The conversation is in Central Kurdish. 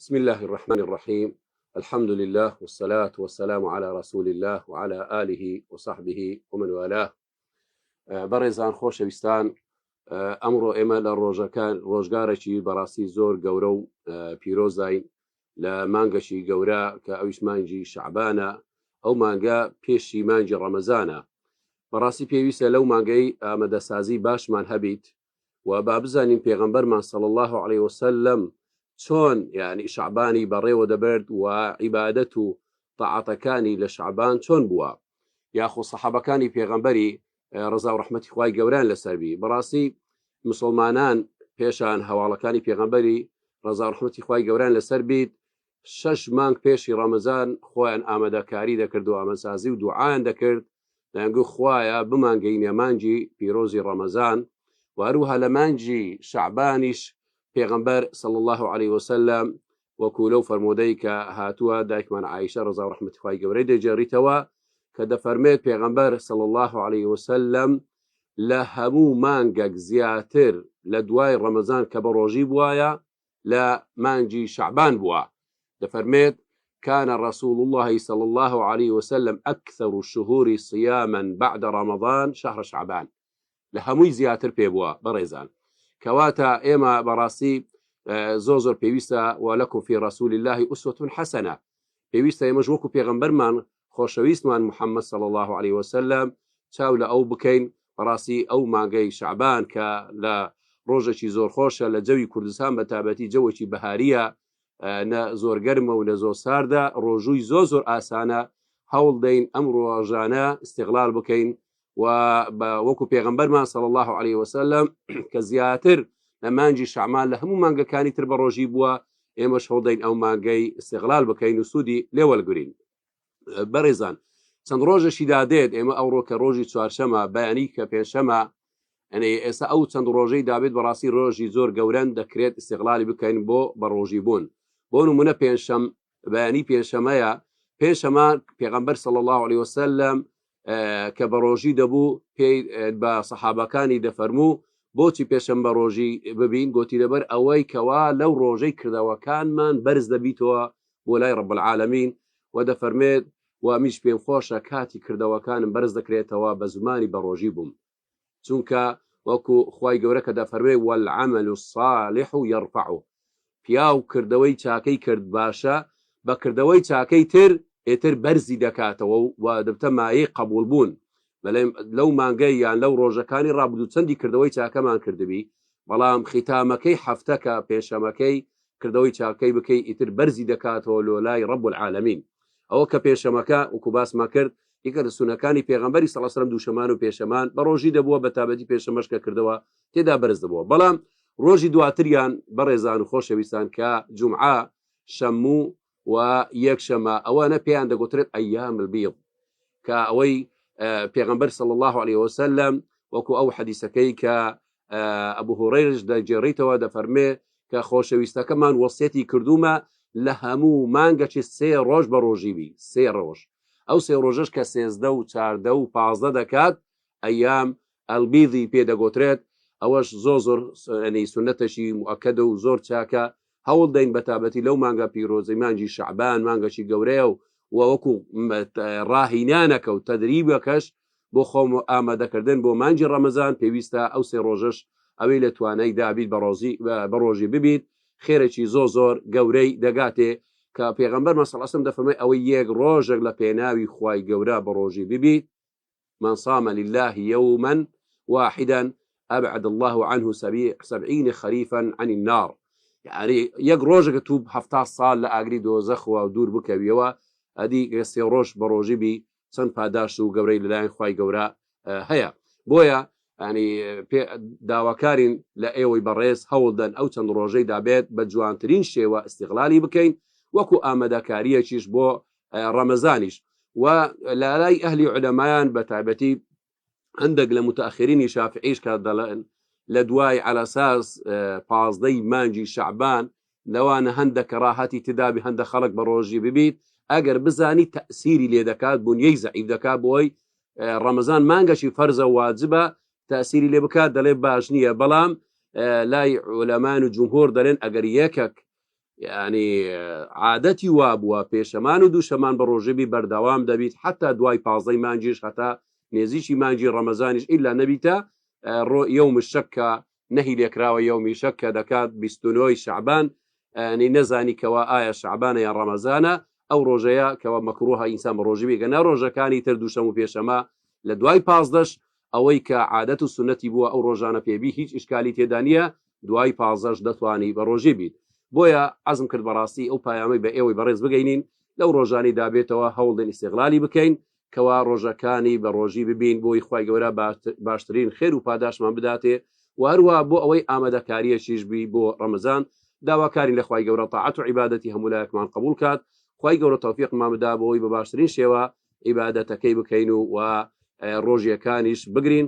بسم الله الرحمن الرحيم الحمد لله والصلاة والسلام على رسول الله وعلى آله وصحبه ومن والاه بەڕێزان خۆشەویستان ئەمڕۆ ئێمە لە ڕۆژەکان ڕۆژگارێکی بەڕاستی زۆر گەورە و پیرۆزداین لە مانگەشی گەورە کە ئەویش مانگی شعبانە ئەو مانگە پێشی مانگی ڕەمەزانە بەڕاستی پێویستە لەو مانگەی ئامادەسازی باشمان هەبیت و با بزانین پێغەمبەرمان صلی اللە علیە وسلم چۆن یعنی شعبانی بەڕێوە دەبرد و عیبادەت و تاعاتەکانی لە شعبان چۆن بووە یاخۆ سەحابەکانی پێغەمبەری ڕزا و ڕحمەتی خوای گەوران لەسەربی بەڕاستی مسلمانان پێشان هەواڵەکانی پێغەمبەری ڕزا و ڕحمەتی خوای گەوران لەسەر بیت شەش مانگ پێشی ڕەمەزان خۆیان ئامادەکاری دەکرد و ئامەسازی و دوعایان دەکرد، دەیانگوت خوایە بمانگەینە مانگی پیرۆزی ڕەمەزان و هەروەها لە مانگی شەعبانیش پێغەمبەر صلی اللە علیە وسلم وەکو لەو فەرموودەی کە هاتووە دایکمان عائیشە ڕەزا و ڕەحمەتی خوای گەورەی دەیگێڕیتەوە کە دەفەرمێت پێغەمبەر صلی اللە علیە وسلم لە هەموو مانگەک زیاتر لە دوای ڕەمەزان کە بە ڕۆژی بوایە لە مانگی شەعبان بووە، دەفەرمێت، کان رسول اللە صلی اللە علیە وسلم اکثر الشهور صیاما بعد رمضان شهر شعبان، لە هەمووی زیاتر پێ بووە، بەڕێزان کەواتە ئێمە بەڕاستی زۆر زۆر پێویستە، ولکم فی رسول اللە اسوە حسنە، پێویستە ئێمەش وەکو پێغەمبەرمان خۆشەویستمان محمد صلی اللە علیە وسلم چاو لە ئەو بکەین بەڕاستی ئەو مانگەی شەعبان کە لە ڕۆژەکی زۆر خۆشە لە جەوی کوردستان بە تابەتی جەوەکی بەهاریە نە زۆر گەرمە و نە زۆر ساردە ڕۆژووی زۆر زۆر ئاسانە هەوڵ دەین ئەم ڕۆژانە استغلال بکەین و بە وەکو پێغمبەرمان سەڵ الله عليه وسلم کە زیاتر لە مانجی شەعمان لە هەموو مانگەکانی تر بە ڕۆژی بووە ئێمە شەڵدەین ئەو مانگەی سێغلال بکەین و سوودی لێوەلگرین بەڕێزان چەند ڕۆژەشی دادێت ئێمە ئەو ڕۆکە ڕۆژی چوارشەمە بەیانی کە پێنجشەمە ئەنێ ئێستا ئەو چەند ڕۆژەی دابێت بەڕاستی ڕۆژی زۆر گەورەن دەکرێت استغلالی بکەین بۆ بەڕۆژی بوون بۆ نمونە پێنجشەم بەیانی پێنجشەمەیە پێنجشەمە پێغەمبەر صلی الله عليه وسلم کە بە ڕۆژی دەبوو پێی بە سەحابەکانی دەفەرموو بۆچی پێشم بە ڕۆژی ببین گوتی لەبەر ئەوەی کەوا لەو ڕۆژەی کردەوەکانمان بەرز دەبیتەوە بۆ لای ڕب العالمین و دەفەرمێت و میش پێم خۆشە کاتی کردەوەکانم بەرز دەکرێتەوە بە زمانی بە ڕۆژی بووم چونکە وەکو خوای گەورە کە دەفەرموێ، والعمل الصالح یرفعه، پیاو کردەوەی چاکەی کرد باشە بە کردەوەی چاکەی تر ئیتر بەرزی دەکاتەوە و دەبتە مایەی قەبوڵ بوون، بەلێ لەو مانگەی یان لەو ڕۆژەکانی ڕابردوو چەندی کردەوەی چاکەمان کردبی بەڵام ختامەکەی حەفتەکە پێنجشەمەکەی کردەوەی چاکەی بکەی ئیتر بەرزی دەکاتەوە لۆ لای رب العالمین ئەوە کە پێنجشەمەکە وەکو باسمان کرد یەکە لە سونەکانی پێغەمبەری صلی الله علیه و سلم دووشەمان و پێشەمان بە ڕۆژی دەبووە بە تابەتی پێشەمەش کە کردەوە تێدا بەرز دەبووە بەڵام ڕۆژی دواتریان بەڕێزان و خۆشەویستان کە جمعە شەموو و یەکشەمە ئەوانە پێیان دەگوترێت ئەیام البیض کە ئەوەی پێغەمبەر صلی الله عليه وسلم وەکو ئەو حەدیسەکەی کە ئەبو هورەیرش دەگێڕیتەوە دەفەرمێ کە خۆشەویستەکەمان وەسیەتی کردومە لە هەموو مانگەکی سێ ڕۆژ بە ڕۆژی بی سێ ڕۆژ ئەو سێ ڕۆژەش کە سێزدە و چاردە و پازدە دەکات ئەیام ئەلبیدی پێ دەگۆترێت ئەوەش زۆر زۆر ینی سنەتەشی موکەدە و زۆر چاکە هەوڵ دەین بەتابەتی لەو مانگە پیرۆزەی مانگی شەعبان مانگەشی گەورەیە و وەکو ڕاهینانەکە و تەدریبەکەش بۆ خۆم ئامادەکردن بۆ مانگی ڕەمەزان پێویستە ئەو سێ ڕۆژش ئەوەی لە توانای دابیت بە ڕۆژی ببیت خێرەی زۆ زۆر گەورەی دەگاتێ کە پێغمبەر مەسەڵ ئەسم دەفەرمای ئەوەی یەک ڕۆژێک لە پێناوی خوای گەورە بە ڕۆژی ببیت من صام للە یوما واحدا ابعد اللە عنه سبعین خریفا عن النار یاری یەک ڕۆژەکە تو هەفتا ساڵ لە ئاگری دۆزەخەوە و دوور بکەویەوە ئەدی گە سێ ڕۆژ بە ڕۆژی بی چەند پاداشت و گەورەی لەلایەن خی گەورە هەیە بۆیە ینی پێ داواکارین لە ئێوەی بەڕێز هەوڵدەن ئەو چەند ڕۆژەی دابێت بە جوانترین شێوە استیغلالی بکەین وەکو ئامادەکاریەکیش بۆ ڕەمەزانیش و لارای ئەهلی علەمایان بە تایبەتی هەندێک لە متاخرینی شافعیش کە دەڵێن لە دوای عەلەساس پازدەی مانجی شعبان لەوانە هەندە کە ڕاهەتی تدابی هەندە خەڵک بە ڕۆژی ببیت ئەگەر بزانی تەسیری لێ دەکات بوونیەی زەعیب دەکات بۆی ڕەمەزان مانگەشی فەرزە واجبە تاسیری لێ بکات دەڵێ باش نییە بەڵام لای ئۆلەمان و جمهۆر دەلێن ئەگەر یەکەک یانی عادەتی وابووە پێشەمان و دووشەمان بە ڕۆژێبی بەردەوام دەبیت حەتا دوای پازدەی مانجیش هەتا نێزیکی مانجی ڕەمەزانیش ئیلا نەبیتە ڕۆ یوم شەکە نەهی لێکراوە یومی شەکە دەکات بیستنەوەی شعبان نی نەزانی کەوا ئایا شعبانە یان ڕەمەزانە ئەو ڕۆژەیە کەەوە مەکرۆها ئینسان بە ڕۆژی بێگە نە ڕۆژەکانی تر دووشەم و پێشەمە لە دوای پازدەش ئەوەی کە عادەت و سنەتی بووە ئەو ڕۆژانە پێبی هیچ ئشکالی تێدانە دوای پازەش دەتوانی بە ڕۆژی بیت بۆیە عزم کرد بەڕاستی ئەو پایامەی بە ئێوەی بەڕێز بگەینین لەو ڕۆژانی دابێتەوە هەوڵدن ئیسیغلالی بکەین کەوا ڕۆژەکانی بە ڕۆژی ببین بۆی خی گەورە باشترین خێر و پاداشمان بداتێ و هەروە بۆ ئەوەی ئامادەکاریەکیش بی بۆ ڕەمەزان داواکاری لە خی گەورە تاعات و عیباەتی هەمولایەکمان قبول کات خی گەورە تەوفیقمان بدا بۆی بە باشترین شێوە عیباەتەکەی بکەین و و ڕۆژیەکانیش بگرین